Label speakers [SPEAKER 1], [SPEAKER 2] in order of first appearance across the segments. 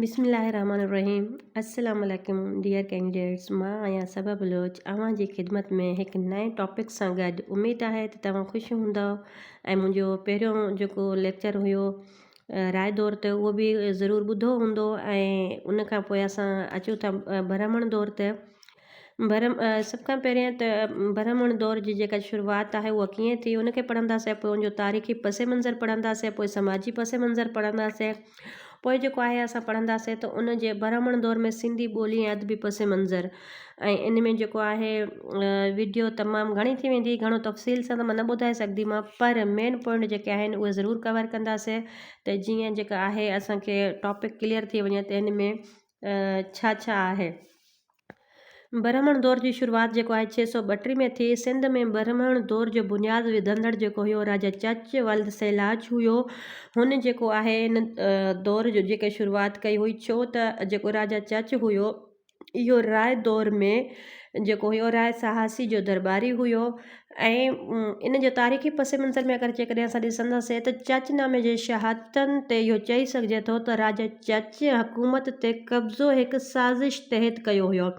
[SPEAKER 1] بسم الله الرحمٰن الرحيم السلام عليڪم ڊيئر ڪينڊيڊيٽس مان آهيان صبا بلوچ اوهان جي خدمت ۾ هڪ نئين ٽاپڪ سان گڏ اميد آهي ته توهان خوش هوندو ۽ منهنجو پهريون جيڪو ليڪچر هيو راء دور ته اهو به ضرور ٻڌو هوندو ۽ ان کان پوء اسان اچو ٿا برهمڻ دور ته برهم سڀ کان پهريان ته برهمڻ دور جي جيڪا شروعات آهي اها ڪيئن ٿي ان کي پڙهنداسين پوء ان جو تاريخي پس منظر پڙهنداسين پوء سماجي پس منظر پڙهنداسين پوء جيڪو آهي اسان پڙهنداسين ته ان جي برهمڻ دور ۾ سنڌي ٻولي ۽ ادبي پس منظر ۽ ان ۾ جيڪو آهي ويڊيو تمام گهڻي ٿي ويندي گهڻو تفصيل سان ته مان نه ٻڌائي سگهندي مان پر مين پوائنٽ جيڪي آهن اهي ضرور ڪور ڪنداسين ته جيئن جيڪا آهي اسانکي ٽاپڪ ڪليئر ٿي وڃي ته ان ۾ ڇا ڇا آهي؟ برهمڻ دور جي شروعات جيڪو آهي ڇهه سؤ ٻٽيهه ۾ ٿي. سنڌ ۾ برهمڻ دور جو بنياد وڌندڙ جيڪو هيو راجا چچ ولد سيلاج هيو. هن جيڪو آهي ان دور جو جيڪي شروعات ڪئي هئي ڇو ته جيڪو راجا چچ هيو اهو راء دور ۾ جيڪو هيو راء سهاسي جو درٻاري هيو. ۽ ان جو تاريخي پس منظر ۾ اگر جيڪڏهن اسان ڏسنداسين ته چچ نامي جي شهادتن تي اهو چئي سگهجي ٿو ته راجا چچ حڪومت تي قبضو هڪ سازش تحت ڪيو هيو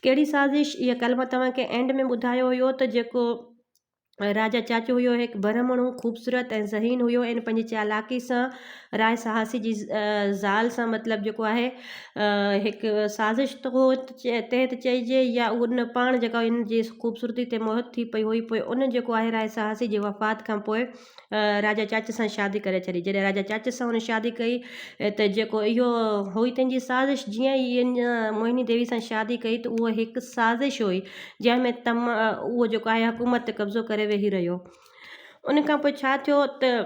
[SPEAKER 1] ڪهڙي سازش اهي ڪل مان توهان کي اينڊ ۾ ٻڌايو هيو ته جيڪو راجا چچ هيو هڪ برهمڻ هو خوبصورت ۽ ذهين هيو ۽ پنهنجي چالاڪي سان راء سهاسي جي زال سان مطلب جيڪو آهي هڪ سازش تحت چئجي يا ان پاڻ جيڪا ان جي خوبصورتي تي موهت ٿي پئي هئي پوء ان جيڪو آهي راء سهاسي جي وفات کان پوء راجا چاچ سان شادي ڪري ڇڏي جڏهن راجا چاچ سان هن شادي ڪئي ته جيڪو اهو هئي تنهن جي سازش جيئن ئي ان موهني ديوي سان شادي ڪئي ته اهو هڪ سازش هئي جنهن ۾ تم اهو جيڪو آهي حڪومت تي قبضو ڪري ويهي رهيو ان کان پوء ڇا ٿيو ته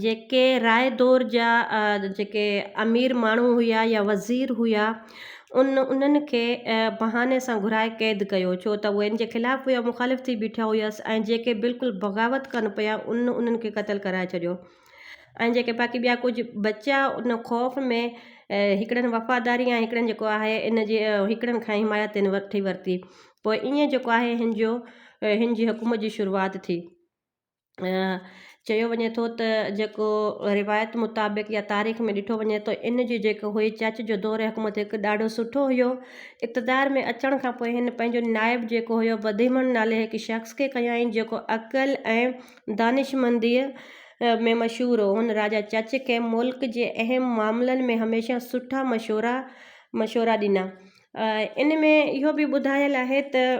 [SPEAKER 1] جيڪي راء دور جا جيڪي امير ماڻهو هيا يا وزير هيا ان انهن کي بهاني سان گهرائي قيد ڪيو ڇو ته هو ان جي خلاف هيا مخالف ٿي بيٺا هيس ۽ جيڪي بلڪل بغاوت ڪن پيا ان انهن کي قتل ڪرائي ڇڏيو ۽ جيڪي باقي ٻيا ڪجهه بچيا ان خوف ۾ هڪڙن وفاداري ۽ هڪڙن جيڪو آهي ان جي هڪڙن کان حمايت تن وٺي ورتي پوء ائين جيڪو آهي هن جو هن جي حڪومت جي شروعات ٿي چيو وڃي ٿو ته جيڪو روايت مطابق يا تاريخ ۾ ڏٺو وڃي ته ان جي جيڪو هئي چاچ جو دور حڪومت هڪ ڏاڍو سٺو هيو اقتدار ۾ اچڻ کان پوء هن پنهنجو نائب جيڪو هيو بديمڻ نالي هڪ شخص کي کنيائين جيڪو عقل ۽ دانشمنديء ۾ مشهور هو هن راجا چچ کي ملڪ جي اهم معاملن ۾ هميشه سٺا مشورا مشورا ڏنا ان ۾ اهو به ٻڌايل آهي ته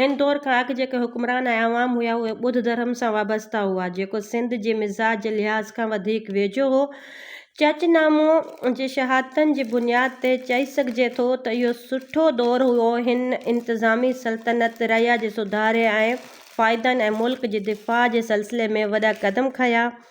[SPEAKER 1] هن دور کان اڳ جيڪي حڪمران ۽ عوام هيا اهي ٻڌ ڌرم سان وابسته هئا جيڪو سنڌ جي مزاج جي لحاظ کان وڌيڪ ويجهو هو. چچ نامو جي شهادتن جي بنياد تي چئي سگهجي ٿو ته اهو سٺو دور هيو هن انتظامي سلطنت رعيا جي سڌاري ۽ فائدن ۽ ملڪ جي دفاع جي سلسلي ۾ وڏا قدم کنيا.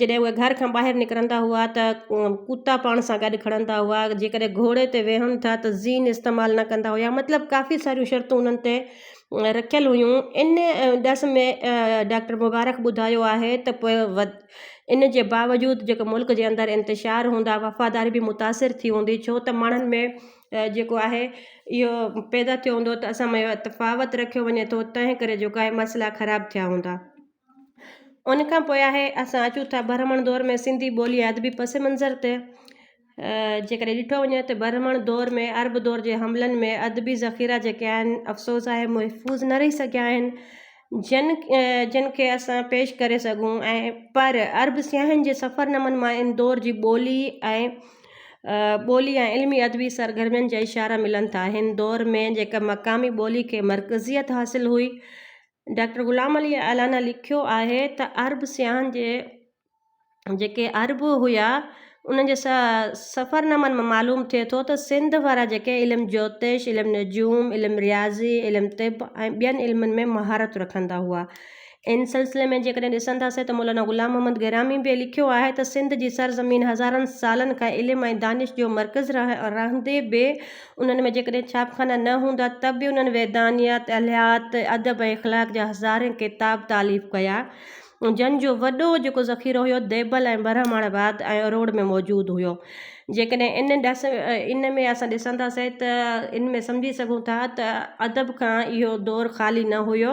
[SPEAKER 1] جڏهن اهي گهر کان ٻاهر نڪرندا هئا ته ڪتا پاڻ سان گڏ کڻندا هئا جيڪڏهن گهوڙي تي ويهن ٿا ته زين استعمال نه ڪندا هيا مطلب ڪافي ساريون شرطون انهن تي رکيل هيون ان ڏس ۾ ڊاڪٽر مبارڪ ٻڌايو آهي ته پوء ان جي باوجود جيڪو ملڪ جي اندر انتشار هوندا وفاداري به متاثر ٿي هوندي ڇو ته ماڻهن ۾ جيڪو آهي اهو پيدا ٿيو هوندو ته اسان ۾ تفاوت رکيو وڃي ٿو تنهن ڪري جيڪو آهي مسئلا خراب ٿيا هوندا ان کان پوء آهي اسان اچون ٿا برهمڻ دور ۾ سنڌي ٻولي ادبي پس منظر تي جي ڪڏهن ڏٺو وڃي ته برهمڻ دور ۾ عرب دور جي حملن ۾ ادبي ذخيرا جيڪي آهن افسوس آهي محفوظ نه رهي سگهيا آهن جن جن کي اسان پيش ڪري سگهون ۽ پر عرب سياحن جي سفر نمن مان ان دور جي ٻولي ۽ ٻولي ۽ علمي ادبي سرگرمين جا اشارا ملن ٿا هن دور ۾ جيڪا مقامي ٻولي کي مرڪزيت حاصل هئي ڊاڪٽر غلام علي الانا لکيو آهي ته عرب سياحن جي جيڪي عرب هيا انهن جي سفر نامن مان معلوم ٿئي ٿو ته سنڌ وارا جيڪي علم جوتش، علم نجوم، علم رياضي، علم طب ۽ ٻين علمن ۾ مهارت رکندا هئا. ان سلسلي ۾ جيڪڏهن ڏسنداسين ته مولانا غلام محمد گرامي به لکيو آهي ته سنڌ جي سرزمين هزارن سالن کان علم ۽ دانش جو مرڪز رهندي به انهن ۾ جيڪڏهن ڇاپخانا نه هوندا ته به انهن ويدانيات الهيات ادب ۽ اخلاق جا هزارين ڪتاب تاليف ڪيا جن جو وڏو جيڪو ذخيرو هيو ديبل ۽ برهمڻ واد ۽ اروڙ ۾ موجود هيو جيڪڏهن ان ڏس ان ۾ اسان ڏسنداسين ته ان ۾ سمجهي سگهون ٿا ته ادب کان اهو دور خالي نه هيو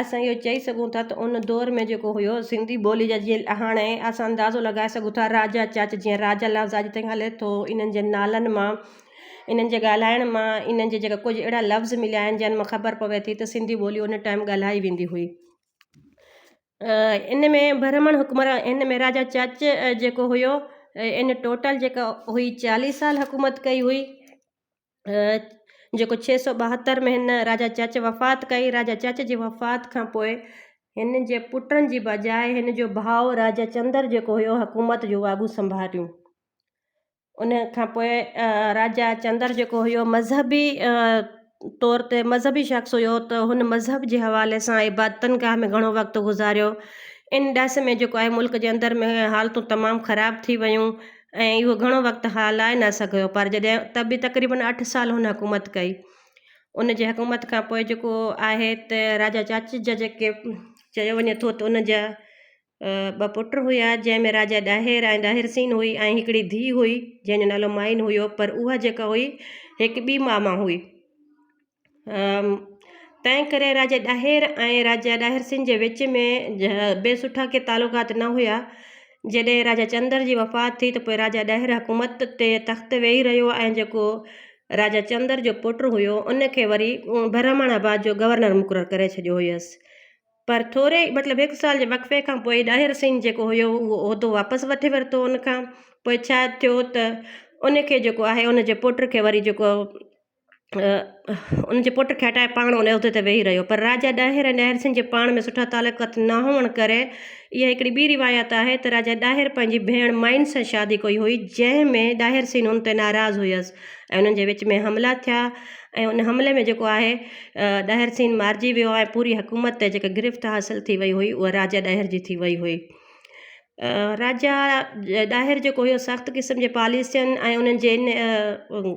[SPEAKER 1] اسان اهو چئي سگهون ٿا ته ان دور ۾ جيڪو هيو سنڌي ٻولي جا جيئن هاڻي اسان اندازو لڳائي سگهون ٿا راجا چاچ جيئن راجا لفظ اڄ تائين هلي ٿو انهن جي نالن مان انهن جي ڳالهائڻ مان انهن جي جيڪا ڪجهه اهڙا لفظ مليا آهن جن مان خبر پوي ٿي ته سنڌي ٻولي ان ٽائيم ڳالهائي ويندي هئي ان ۾ برهمڻ حڪمران ان ۾ راجا چاچ جيڪو هيو ان ٽوٽل جيڪا هئي چاليهه سال حڪومت ڪئي هئي جيڪو ڇهه سؤ ٻاهتر ۾ هن راجا چچ وفات ڪئي راجا چچ جي وفات کان پوء هن جي پٽن جي بجاء هن جو ڀاء راجا چندر جيڪو هيو حڪومت جون واڳون سنڀاليون ان کان پوء راجا چندر جيڪو هيو مذهبي طور تي مذهبي شخص هيو ته هن مذهب جي حوالي سان عبادتن گاهه ۾ گهڻو وقت گذاريو ان ڏس ۾ جيڪو آهي ملڪ جي اندر ۾ حالتون تمام خراب ٿي ويون ۽ اهو گهڻو وقت هالائي نه سگهيو پر جڏهن ته به تقريبن اٺ سال هن حڪومت ڪئي ان جي حڪومت کان پوء جيڪو آهي ته راجا چاچج جا جيڪي چيو وڃي ٿو ته ان جا ٻه پٽ هيا جنهن ۾ راجا ڏاهر ۽ ڏاهر سين هئي ۽ هڪڙي ڌي هئي جنهن جو نالو مائين هيو پر اها جيڪا هئي هڪ ٻي ماء مان هئي تنهن ڪري راجا ڏاهر ۽ راجا ڏاهر سنگهه جي وچ ۾ به سٺا ڪي تعلقات نه هيا جڏهن راجا چندر جي وفات ٿي ته پوء راجا ڏاهر حڪومت تي تخت ويهي رهيو ۽ جيڪو راجا چندر جو پٽ هيو ان کي وري برهمڻ آباد جو گورنر مقرر ڪري ڇڏيو هيس پر ٿوري مطلب هڪ سال جي وقفي کان پوء ڏاهر سنگهه جيڪو هيو اهو عهدو واپس وٺي ورتو ان کان پوء ڇا ٿيو ته ان کي جيڪو آهي ان جي پٽ کي وري جيڪو ان جي پٽ کي هٽائي پاڻ ان عهدي تي ويهي رهيو پر راجا ڏاهر ۽ ڏاهر سنگهه جي پاڻ ۾ سٺا تعلقات نه هئڻ ڪري اها هڪڙي ٻي روايت آهي ته راجا ڏاهر پنهنجي ڀيڻ مائن سان شادي ڪئي هئي جنهن ۾ ڏاهر سين ان تي ناراض هيس ۽ انهن جي وچ ۾ حملا ٿيا ۽ ان حملي ۾ جيڪو آهي ڏاهر سين مارجي ويو ۽ پوري حڪومت تي جيڪا گرفت حاصل ٿي وئي هئي اها راجا ڏاهر جي ٿي وئي هئي راجا ڏاهر جيڪو هيو سخت قسم جي پاليسين ۽ انهن جي ان